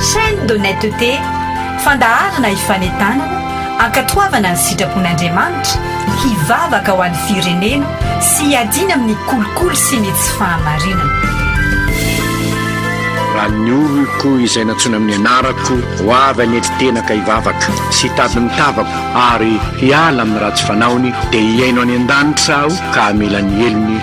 Chaîne d'honnêteté, fandaharana hifanentanana, hankatoavana ny sitrapon'Andriamanitra, hivavaka ho an'ny firenena sy hiadiana amin'ny kolikoly sy ny tsy fahamarinana. Raha ny oloko izay nantsoina amin'ny anarako ho avy hanetry tena ka hivavaka sy hitady ny tavako ary hiala amin'ny ratsy fanaony dia hihaino any an-danitra aho ka hamela ny helony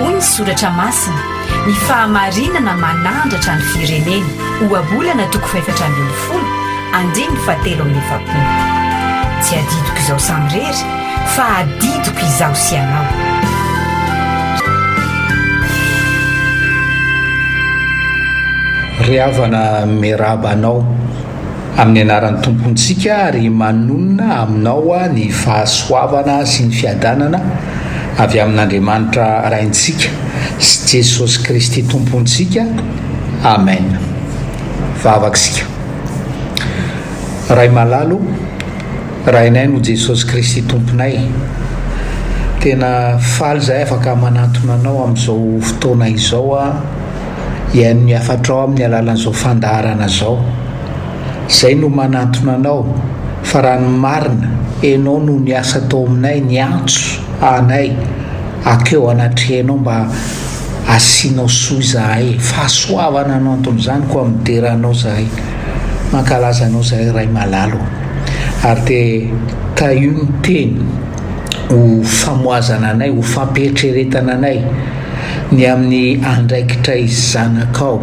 Hoy ny soratra masina, Ny fahamarinana manandratra ny firenena, Ohabolana toko fahefatra ambin'ny folo, andininy fahatelo amin'ny efapolo. Tsy adidiko izao samirery, Fa adidiko izaho sy ianao. Ry havana miarahaba anao amin'ny anaran'ny Tompontsika ary manonona aminao ny fahasoavana sy ny fiadanana avy amin'Andriamanitra Raintsika sy Jesosy Kristy Tompontsika. Amen. Vavaka isika. Ray malalo. Rainay no Jesosy Kristy Tomponay. Tena faly izahay afaka manantona anao amin'izao fotoana izao aho hihaino ny hafatrao amin'ny alalan'izao fandaharana izao. Izay no manantona anao fa raha ny marina enao no niasa tao aminay niantso anay akeo anatrehanao mba hasianao soa izahay. Fahasoavana no anton'izany koa midera anao izahay. Mankalaza anao zahay Ray malala ô! ary dia tahio ny teny ho famohazana anay, ho fampieritreretana anay ny amin'ny andraikitray zanakao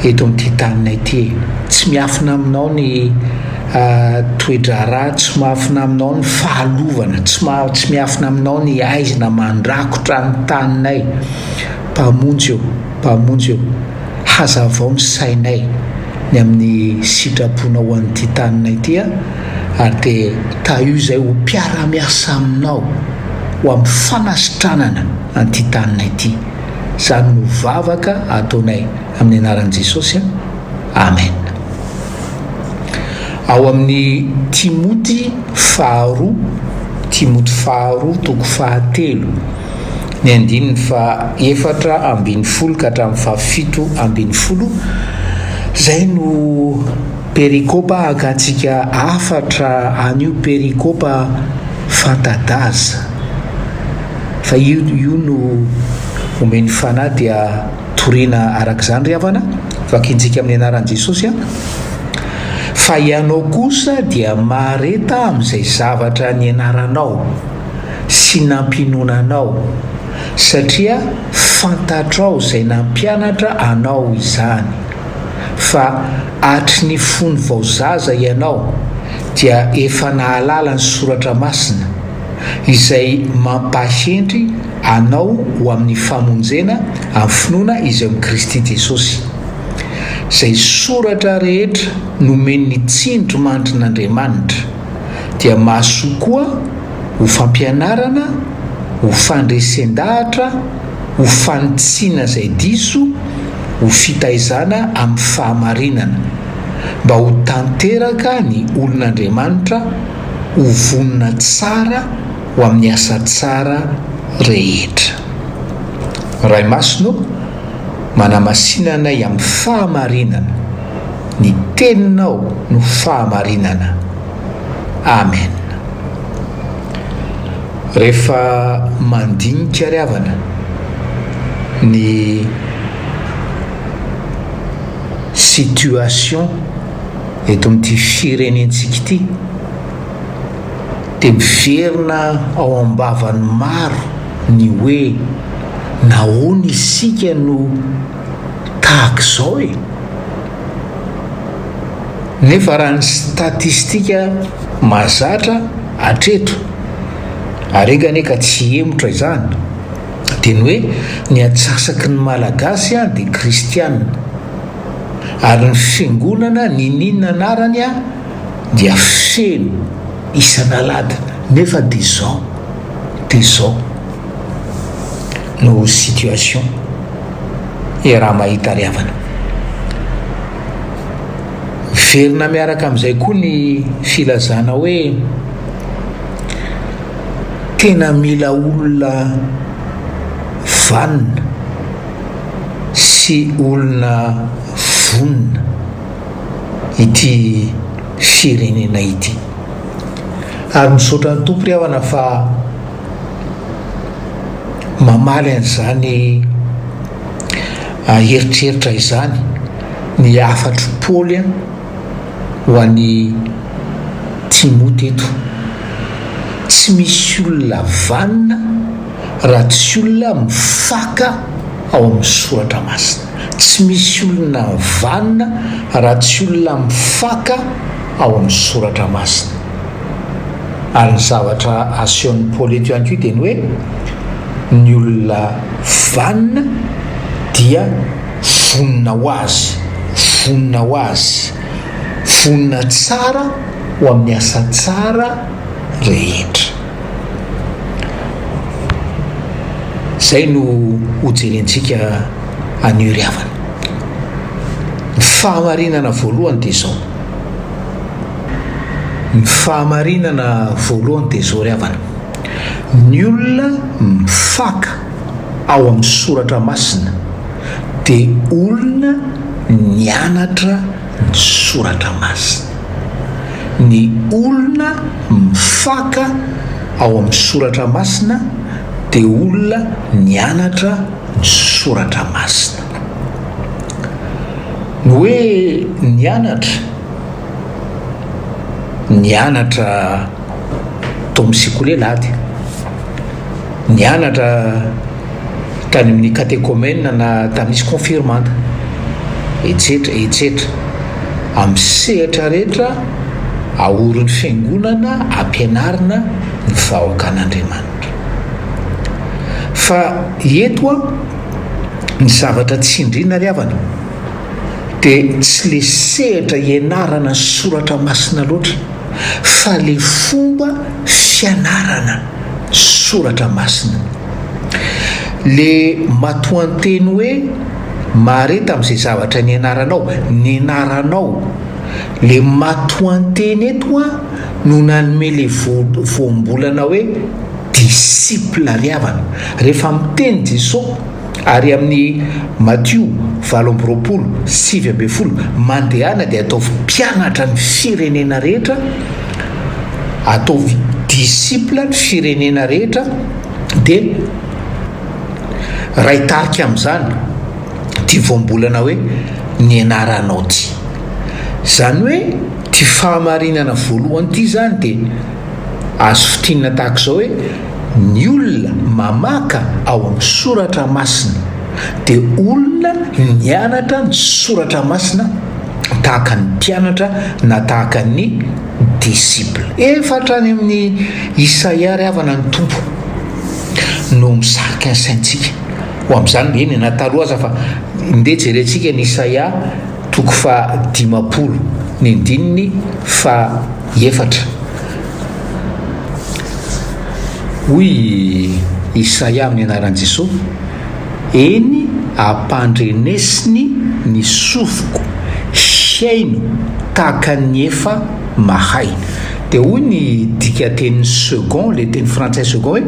eto amin'ity tanina ity e! tsy miafina aminao ny toe-draharaha, tsy miafina aminao ny fahalovana, tsy tsy miafina aminao ny aizina mandrakotra ny taninay, Mpamonjy ô! Mpamonjy ô! Hazavao ny sainay ny amin'ny sitraponao ho an'ity taninay ity ary dia tahio izay ho mpiara-miasa aminao ho amin'ny fanasitranana an'ity taninay ity. Izany no vavaka ataonay amin'ny anaran'i Jesosy. Amen. Ao amin'ny Timoty faharoa, Timoty faharoa toko fahatelo. ny andininy faha-efatra ambin'ny folo ka hatramin'ny faha-fito ambin'ny folo, izay no perikopa hakantsika hafatra an'io perikopa fanta-daza, fa io io no omen'ny Fanahy dia toriana araka izany ry havana, vakintsika amin'ny anaran'i Jesosy an! fa ianao kosa dia mahareta amin'izay zavatra nianaranao, sy nampinoana anao, satria fantatrao izay nampianatra anao izany, fa hatry ny fony vao zaza ianao dia efa nahalala ny Soratra Masina, izay mampahendry anao ho amin'ny famonjena amin'ny finoana izay amin'i Kristy Jesosy. Izay soratra rehetra nomen'ny tsindrimandrin'Andriamanitra. dia mahasoa koa ho fampianarana, ho fandresen-dahatra, ho fanitsiana izay diso, ho fitaizana amin'ny fahamarinana, mba ho tanteraka ny olon'Andriamanitra, ho vonona tsara ho amin'ny asa tsara rehetra. Ray Masina ô, manamasina anay amin'ny fahamarinana. Ny teninao no fahamarinana. Amen. Rehefa mandinika ry havana ny situation eto amin'ity firenentsika ity dia miverina ao am-bavan'ny maro ny hoe nahoana isika no tahaka izao e! Nefa raha ny statistika mahazatra hatreto, ary enga anie ka tsy hihemotra izany, dia ny hoe ny antsasaky ny Malagasy dia kristiana, ary ny fiangonana niniana anarany dia feno isan'alahady, nefa dia izao, dia izao. no situation e raha mahita ry havana. Miverina miaraka amin'izay koa ny filazana hoe tena mila olona vanona sy olona vonona ity firenena ity. Ary misaotra ny Tompo ry havana fa. Mamaly an'izany eritreritra izany ny hafatr'i Paoly ho an'i Timoty eto, Tsy misy olona vanona raha tsy olona mifaka ao amin'ny Soratra Masina. Tsy misy olona vanona raha tsy olona mifaka ao amin'ny Soratra Masina. ary ny zavatra asehon'ny Paoly eto ihany koa dia ny hoe ny olona vanona dia vonona ho azy, vonona ho azy, vonona tsara ho amin'ny asa tsara rehetra. Izay no hojerentsika anio ry havana. Ny fahamarinana voalohany dia izao. Ny fahamarinana voalohany dia izao ry havana, ny olona mifaka ao amin'ny soratra masina dia olona nianatra ny soratra masina. Ny olona mifaka ao amin'ny soratra masina dia olona nianatra ny soratra masina. Ny hoe nianatra, nianatra tao amin'ny sekoly ela ady, nianatra tany amin'ny katekomena na tamin'izy kaonfirmanta, etsetra etsetra, amin'ny sehatra rehetra aorin'ny fiangonana ampianarina ny vahoakan'Andriamanitra. Fa eto an! ny zavatra tsindriana ry havana dia tsy le sehatra ianarana ny soratra masina loatra fa le fomba fianarana soratra masina. Le matoanteny hoe mahareta amin'izay zavatra nianaranao, nianaranao, le matoanteny eto an no nanome le voambolana hoe disciple ry havana rehefa miteny Jeso ary amin'ny Matio valo amby roapolo sivy ambin'ny folo mandehana dia ataovy mpianatra ny firenena rehetra ataovy disciple ny firenena rehetra dia Ray tarika amin'izany ity voambolana hoe ny anaranao ity izany hoe ity fahamarinana voalohany ity izany dia Azo fintinina tahaka izao hoe ny olona mamaka ao amin'ny soratra masina dia olona nianatra ny soratra masina tahaka ny mpianatra na tahaka ny disciple. Efa hatrany amin'ny Isaia ary havana ny Tompo no misarika ny saintsika ho amin'izany, eny na taloha aza fa ndeha jerentsika ny Isaia toko faha dimampolo ny andininy faha efatra. Hoy Isaia amin'ny anaran'i Jesoa, Eny, ampandrenesiny ny sofiko, hihaino tahaka ny efa mahay. Dia hoy ny dikan-teny second, ilay teny frantsay second hoe,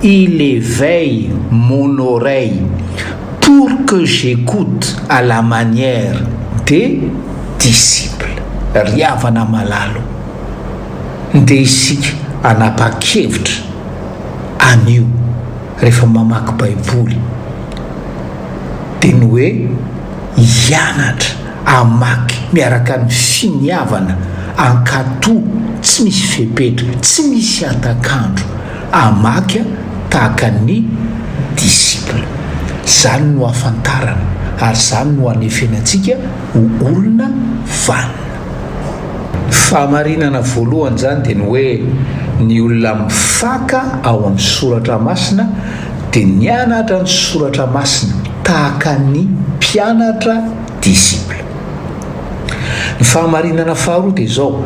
Il éveille mon oreille pour que j'écoute à la manière de. disciple. Ry havana malalo, ndeha isika hanapa-kevitra an'io rehefa mamaky baiboly dia ny hoe hianatra hamaky miaraka ny finiavana ankatò tsy misy fepetra, tsy misy hatak'andro hamaky a tahaka ny disciple. Izany no hafantarana ary izany no hanefenantsika. ho olona vanona. Ny fahamarinana voalohany izany dia ny hoe ny olona mifaka ao amin'ny soratra masina dia nianatra ny soratra masina tahaka ny mpianatra, disciple. Ny fahamarinana faharoa dia izao,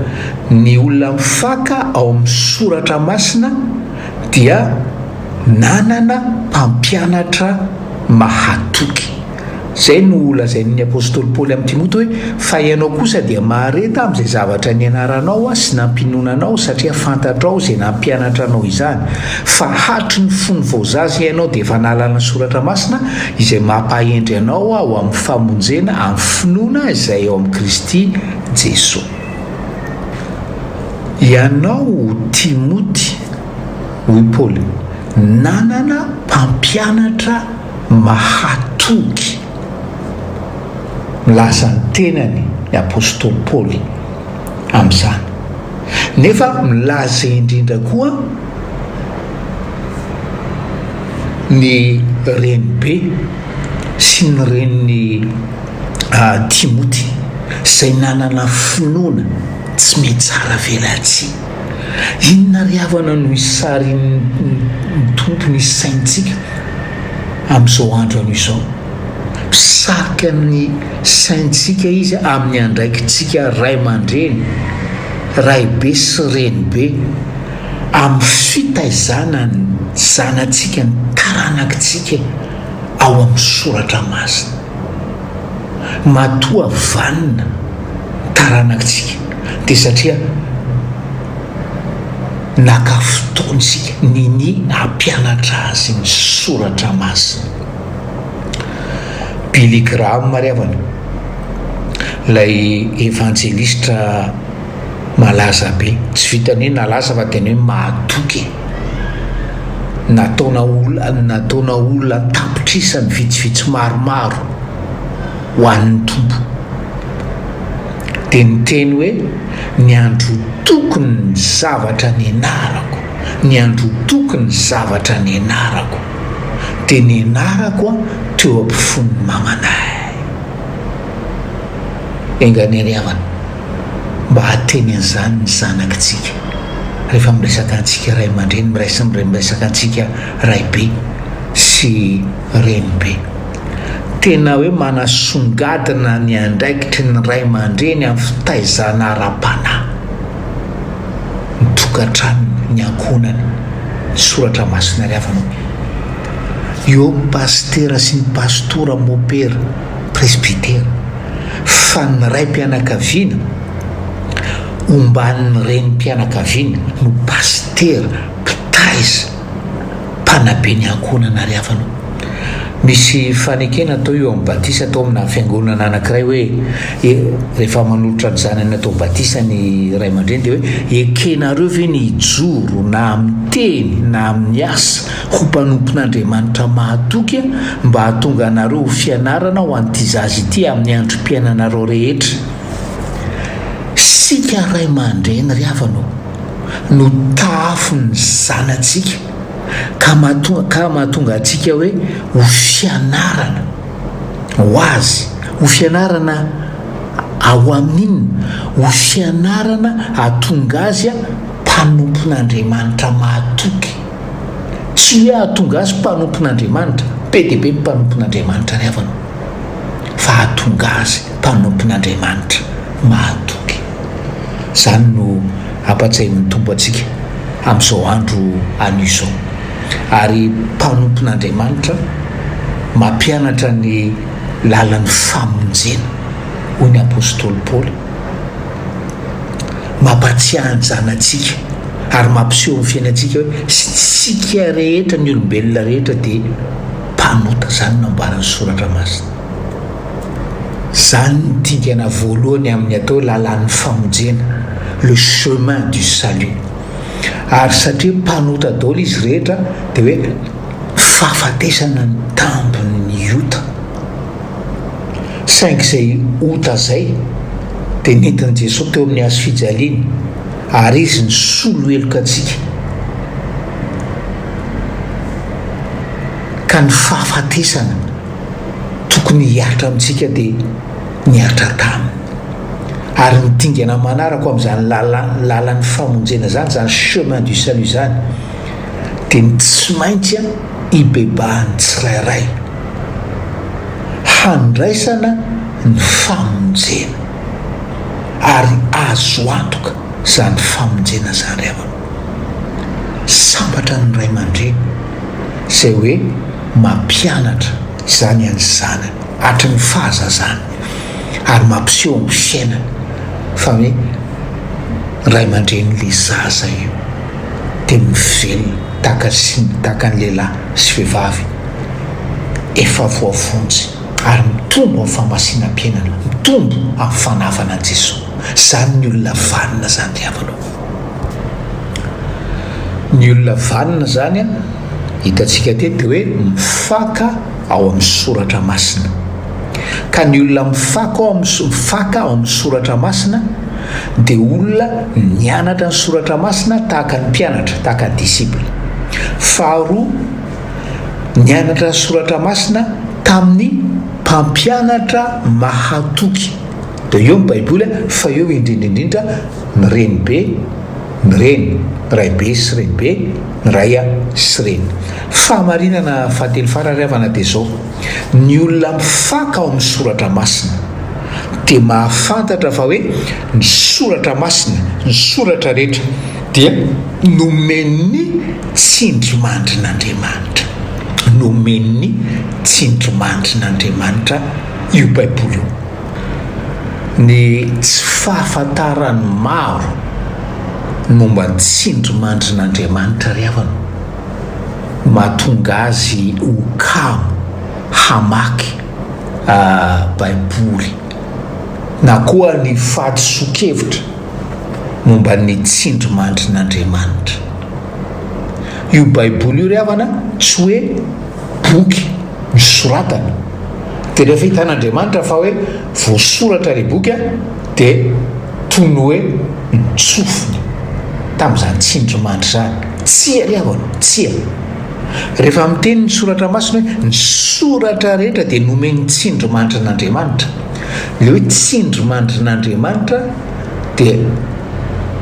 ny olona mifaka ao amin'ny soratra masina dia nanana mpampianatra mahatoky. Izay no lazain' ny apostoly Paoly amin'i Timoty hoe, Fa ianao kosa dia mahareta amin'izay zavatra nianaranao sy nampiononanao, satria fantatrao izay nampianatra anao izany, fa hatry ny fony vao zaza ianao dia efa nahalala ny soratra masina, izay mampahendry anao ho amin'ny famonjena amin'ny finoana izay ao amin'i Kristy Jesoa. Ianao Timoty, hoy Paoly, nanana mpampianatra Mahatoky milaza ny tenany ny apostoly Paoly amin'izany, nefa milaza indrindra koa ny renibe sy ny renin'i Timoty, izay nanana finoana tsy mitsara velatsihy. Inona ry havana no isarin'ny Tompo ny saintsika amin'izao andro anio izao? Mpisarika ny saintsika Izy amin'ny andraikitsika ray aman-dreny, raibe sy renibe, amin'ny fitaizana ny zanatsika, ny taranakitsika ao amin'ny soratra masina. Matoa vanona ny taranakitsika dia satria naka fotoana isika ninia hampianatra azy ny soratra masina. Billy Graham ry havana, ilay evanjelistra. malaza be. Tsy vitan'ny hoe nalaza fa tena hoe mahatoky e! Nataona olona nataona olona an-tapitrisany vitsivitsy maromaro ho an'ny Tompo. Dia niteny hoe, Niandrotoko ny zavatra nianarako, niandrotoko ny zavatra nianarako, dia nianarako aho teo am-pifon'ny mamanay. Enga ny hariavana. mba hahateny an'izany ny zanakitsika. Rehefa miresaka antsika ray aman-dreny, miresaka antsika raibe sy renibe. Tena hoe manasongadina ny andraikitry ny ray aman-dreny amin'ny fitaizana ara-panahy ny tokantranony, ny ankohonany. Soratra masina ry havana o. Eo ny pasitera sy ny pasitora, mopera, presbytera. fa ny raim-pianakaviana omban'ny renim-pianakaviana no pasitera, mpitaiza, mpanabe ny ankohonana ary hafa no. Misy fanekena atao io amin'ny batisa atao amina fiangonana anankiray hoe rehefa manolotra ny zanany atao batisa ny ray aman-dreny dia hoe ekenareo ve ny hijoro na amin'ny teny na amin'ny asa Ho mpanompon'Andriamanitra mahatoky mba hahatonga anareo ho fianarana ho an'ity zaza ity amin'ny androm-piainanareo rehetra. Isika ray aman-dreny ry havana ô, no tahafin'ny zanatsika ka ka mahatonga antsika hoe ho fianarana ho Azy. Ho fianarana ao Aminy inona? Ho fianarana hahatonga Azy mpanompon'Andriamanitra mahatoky. Tsy hoe hahatonga azy mpanompon'Andriamanitra, be dia be ny mpanompon'Andriamanitra ry havana, fa hahatonga azy mpanompon'Andriamanitra mahatoky. Izany no ampa-tsahin'ny Tompo antsika amin'izao andro anio izao. Ary mpanompon'Andriamanitra mampianatra ny lalan'ny famonjena, hoy ny apostoly Paoly. Mampahatsiahy ny zanatsika ary mampiseho amin'ny fiainantsika hoe tsy tsika rehetra ny olombelona rehetra dia mpanota, izany no nambaran'ny Soratra Masina. Izany no dingana voalohany amin'ny atao hoe lalàn'ny famonjena, le chemin du salut. Ary satria mpanota daholo izy rehetra dia hoe fahafatesana ny tambin'ny ota. Saingy izay ota izay dia nentin'i Jesoa teo amin'ny hazo fijaliany, ary Izy nisolo heloka antsika, ka ny fahafatesana tokony hihatra amintsika dia nihatra taminy. Ary ny dingana manaraka amin'izany lalan'ny famonjena izany, izany chemin du salut izany, dia ny tsy maintsy hibebahan'ny tsirairay. handraisana ny famonjena, ary azo antoka izany famonjena izany ry havana. Sambatra ny ray aman-dreny izay hoe mampianatra izany an'ny zanany hatry ny fahazazany ary mampiseho amin'ny fiainany fa hoe ray aman-drenin'ilay zaza io dia mivelona tahaka ny tahaka ny lehilahy sy vehivavy efa voavonjy ary mitombo amin'ny famasinam-piainana, mitombo amin'ny fanavana an'i Jesoa. Izany ny olona vanona izany ry havana o! Ny olona vanona izany, hitantsika teto, dia hoe mifaka ao amin'ny soratra masina. Ka ny olona mifaka ao amin'ny, mifaka ao amin'ny soratra masina dia olona nianatra ny soratra masina tahaka ny mpianatra, tahaka ny disciple. Faharoa. nianatra ny soratra masina tamin'ny mpampianatra mahatoky. Dia eo ny baiboly a, fa eo indrindra indrindra ny renibe, ny reny, raibe sy renibe, ny ray a sy reny. Fahamarinana fahatelo farany ry havana dia zao, ny olona mifaka ao amin'ny soratra masina dia mahafantatra fa hoe Ny Soratra Masina, ny Soratra rehetra, dia nomen'ny tsindrimandrin'Andriamanitra. Nomen'ny tsindrimandrin'Andriamanitra io Baiboly io. Ny tsy fahafantaran'ny maro momba ny tsindrimandrin'Andriamanitra ry havana no mahatonga azy ho kamo hamaky Baiboly. na koa ny fahadisoan-kevitra momba ny tsindrimandrin'Andriamanitra. Io Baiboly io ry havana tsy hoe boky nosoratana, dia rehefa hitan'Andriamanitra fa hoe voasoratra ilay boky an, dia toy ny hoe nitsofina tamin'izany tsindrimandry izany. Tsia ry havana ô, tsia. Rehefa miteny ny Soratra Masina hoe ny soratra rehetra dia nomen'ny tsindrimandrin'Andriamanitra. Ilay hoe tsindrimandrin'Andriamanitra dia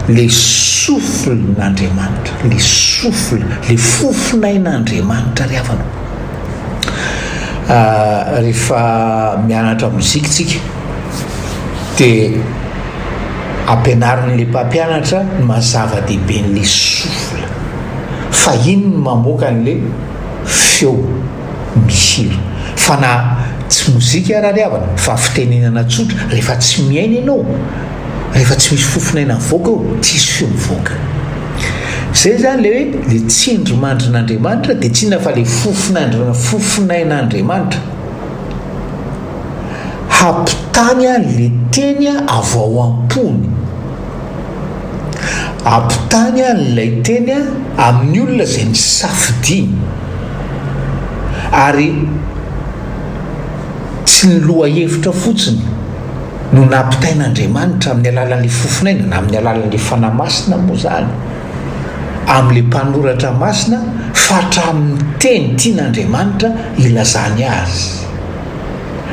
ilay souffle-n'Andriamanitra, ilay souffle, ilay fofonain'Andriamanitra ry havana. Rehefa mianatra mozika isika dia ampianarin'ilay mpampianatra ny maha zava-dehiben'ilay souffle. fa iny no mamoaka anle feo mihira fa na tsy mozika ara ryhavana fa fitenenana tsotra rehefa tsy miaina ianao rehefa tsy misy fofonaina mivoaka eo tsy hisy feo mivoaka zay zany le hoe le tsindry mandrin'andriamanitra de tsinona fa le fofonaindr fofonain'andriamanitra hampitany a le teny avao am-pony Ampitany an'ilay teny amin'ny olona izay nisafidiany, ary tsy ny lohahevitra fotsiny no nampitain'Andriamanitra amin'ny alalan'ilay fofonaina, na amin'ny alalan'ilay Fanahy Masina moa izany, amin'ilay mpanoratra masina, fa hatramin'ny teny tian'Andriamanitra hilazany azy.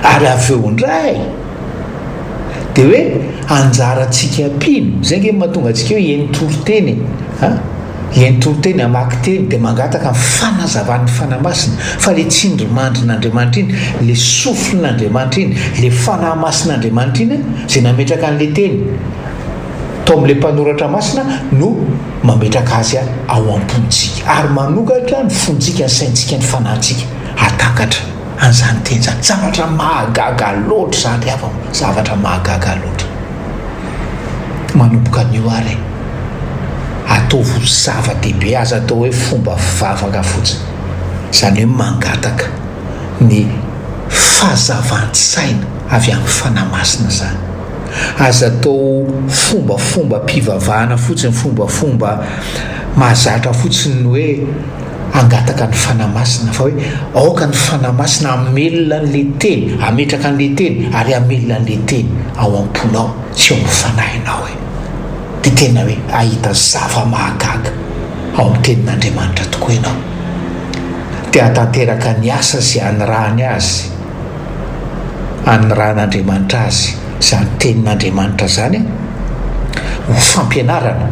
Ary avy eo indray. Dia hoe anjarantsika mpino, izay ange no mahatonga antsika hoe hihaino toriteny e, an, hihaino toriteny, hamaky teny dia mangataka ny fanazavan'ny Fanahy Masina, fa ilay tsindrimandrin'Andriamanitra iny, ilay souffle-n'Andriamanitra iny, ilay Fanahy Masin'Andriamanitra iny izay nametraka an'ilay teny tao amin'ilay mpanoratra masina no mametraka azy ao am-pontsika ary manokatra ny fontsika, ny saintsika, ny fanahintsika hahatakatra. An'izany miteny izany. Zavatra mahagaga loatra izany ry havana ô! Zavatra mahagaga loatra. Manomboka anio ary e! Ataovy ho zava-dehibe, aza atao hoe fomba fivavaka fotsiny. Izany hoe mangataka ny fazavan-tsaina avy amin'ny Fanahy Masina izany. Aza atao ho fombafombam-pivavahana fotsiny, fombafomba mahazatra fotsiny ny hoe. hangataka ny Fanahy Masina, fa hoe aoka ny Fanahy Masina hamelona an'ilay Teny, hametraka an'ilay Teny, ary hamelona an'ilay Teny ao am-ponao sy ao amin'ny fanahinao e. Dia tena hoe hahita zava-mahagaga ao amin'ny Tenin'Andriamanitra tokoa ianao. Dia hahatanteraka ny asa izay hanirahany Azy, hanirahan'Andriamanitra Azy. Izany Tenin'Andriamanitra izany ho fampianarana,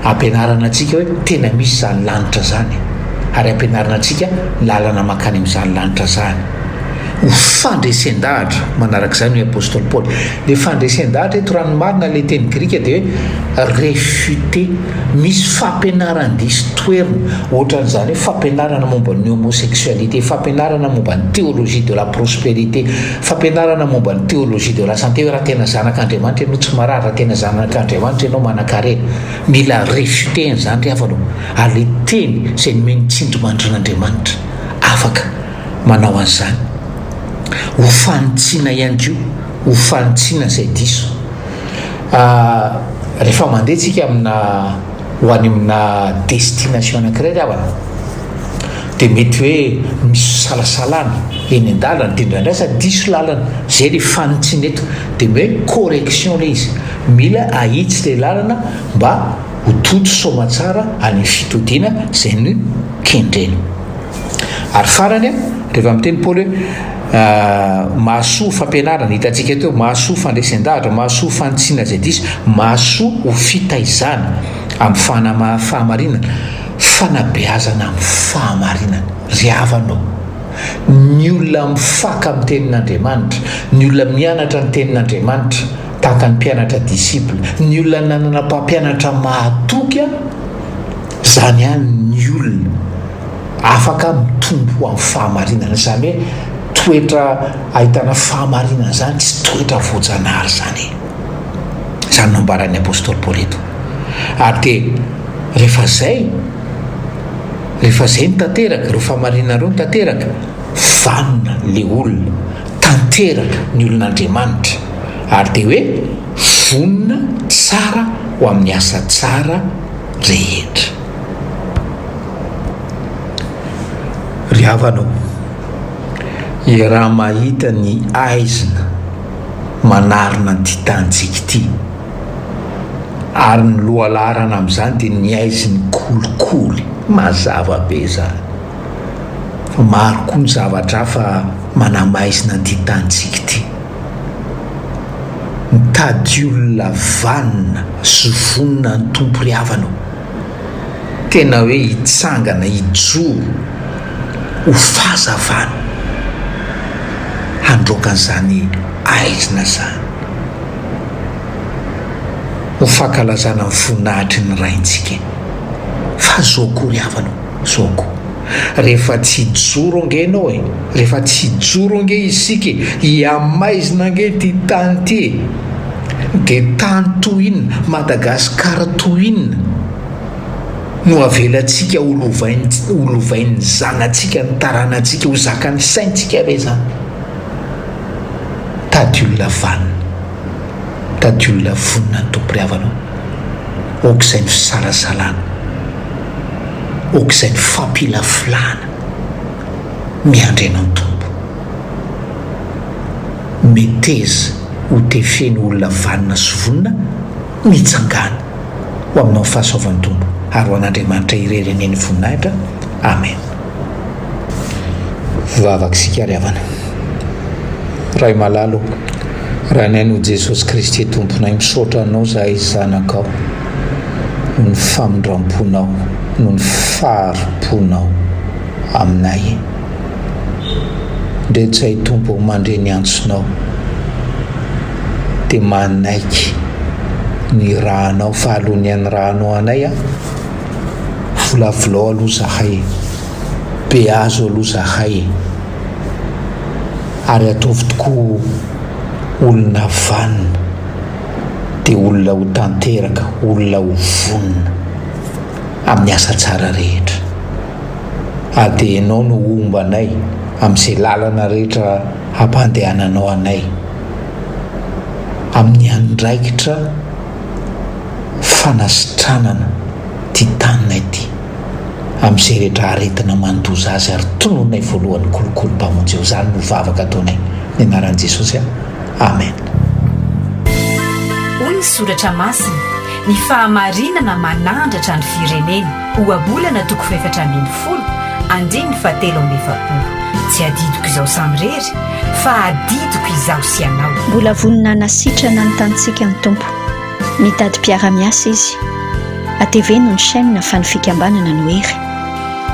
ampianarana antsika hoe tena misy izany lanitra izany, ary ampianarana antsika ny lalana mankany amin'izany lanitra izany. Ho fandresen-dahatra, manaraka izany hoy apostoly Paoly. Ilay fandresen-dahatra eto, raha ny marina, ilay teny grika dia hoe refuter. Misy fampianaran-diso toherina, ohatran'izany hoe fampianarana momba ny homosexualité, fampianarana momba ny théologie de la prospérité, Fampianarana momba ny théologie de la santé hoe raha tena zanak' Andriamanitra ianao tsy marary, raha tena zanak' Andriamanitra ianao manankarena. Mila refutena izany ry havana o! ary ilay Teny izay nomen'ny tsindrimandrin' Andriamanitra afaka manao an'izany. Ho fanitsiana ihany koa, ho fanitsiana izay diso. Rehefa mandeha tsika amina ho any amina destination anankiray ry havana, dia mety hoe misy fisalasalana eny an-dalana dia indraindray aza diso lalana, izay ilay fanintsiana eto, dia hoe correction ilay izy, mila ahitsy ilay lalana mba ho toto soamatsara any amin'ny fitodiana izay nokendrena. Ary farany, rehefa miteny Paoly hoe mahasoa fampianarana, hitantsika teo, mahasoa fandresen-dahatra, mahasoa fanintsiana izay diso, mahasoa ho fitaizana amin'ny fahamarinana. Fanabeazana amin'ny fahamarinana. Ry havana ô, ny olona mifaka amin'ny Tenin'Andriamanitra, ny olona mianatra ny Tenin'Andriamanitra, tahaka ny mpianatra, disciple, ny olona nanana mpampianatra mahatoky, izany ihany ny olona afaka mitombo amin'ny fahamarinana. Izany hoe toetra ahitana fahamarinana izany tsy toetra voajanahary izany e. Izany no ambaran'ny apostoly Paoly eto. Ary dia rehefa izay, rehefa izay no tanteraka, ireo famarinana ireo no tanteraka, vanona le olona, tanteraka ny olon'Andriamanitra. Ary dia hoe vonona tsara ho amin'ny asa tsara rehetra. Ry havana o, iaraha-mahita ny aizina. manarona an'ity tanintsika ity. Ary ny lohalaharana amin'izany dia ny haizin'ny kolikoly, mazava be izany. Fa maro koa ny zavatra hafa manamaizina an'ity tanintsika ity. Mitady olona vanona sy vonona an'ny Tompo ry havana ô! Tena hoe hitsangana hijoro ho fahazavana handroaka an'izany aizina izany. Ho fankalazana ny voninahitry ny Raintsika. Fa zao akory havana ô, zao akory. rehefa tsy hijoro ange ianao e! rehefa tsy hijoro ange isika e! hihamaizina ange ity tany ity e! dia tany toy inona, Madagascar toy inona no avelantsika ho lovaintsika, ho lovain'ny zanatsika, ny taranantsika, ho zakan'ny saintsika ve izany? tady olona vanona, tady olona vonona ny tompom-pihavanao, aoka izay no fisalasalana. aok'izay ny fampilafilana miandry an' antombo. Meteza ho tefeno olona vanona sy vonona mitsangàna ho aminao ny fahasoavan'ny Tompo ary ho an'Andriamanitra irery anie ny voninahitra. Amen. Vavaka isika ry havana. Ray malala ô, raha ny Anao Jesosy Kristy Tomponay, misaotra Anao zahay zanakao. ny famindramponao noho ny fahari-ponao aminay. Rehetra i Tompo mandre ny antsonao, dia manaiky ny irahanao fa aloha ny hanirahanao anay an, volavolao aloha zahay e, beazo aloha zahay e, ary ataovy tokoa olona vanona. dia olona ho tanteraka, olona ho vonona amin'ny asa tsara rehetra. Ary dia Ianao no ho homba anay amin'izay lalana rehetra hampandehananao anay, amin'ny andraikitra fanasitranana ity taninay ity, amin'izay rehetra aretina mandoza azy, ary tonononay voalohany kolikoly Mpamonjy eo. Izany no vavaka ataonay, amin'ny anaran'i Jesosy. Amen. Hoy ny soratra masina, Ny fahamarinana manandratra ny firenena, Ohabolana toko fahefatra ambin'ny folo, andininy fahatelo amby efapolo. Tsy adidiko izaho samirery, fa adidiko izaho sy ianao. Mbola vonona hanasitrana ny tanintsika ny Tompo. Mitady mpiara-miasa Izy. Ateveno ny chaîne fa ny fikambanana no hery.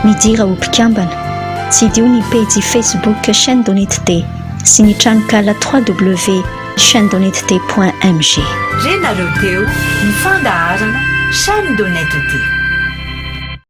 Midira ho mpikambana. Tsidiho ny pejy Facebook Chaîne Donitd. sy ny tranonkala www.chainedonetd.mg. Re nareo teo ny fandaharana Chaîne de Net Ity.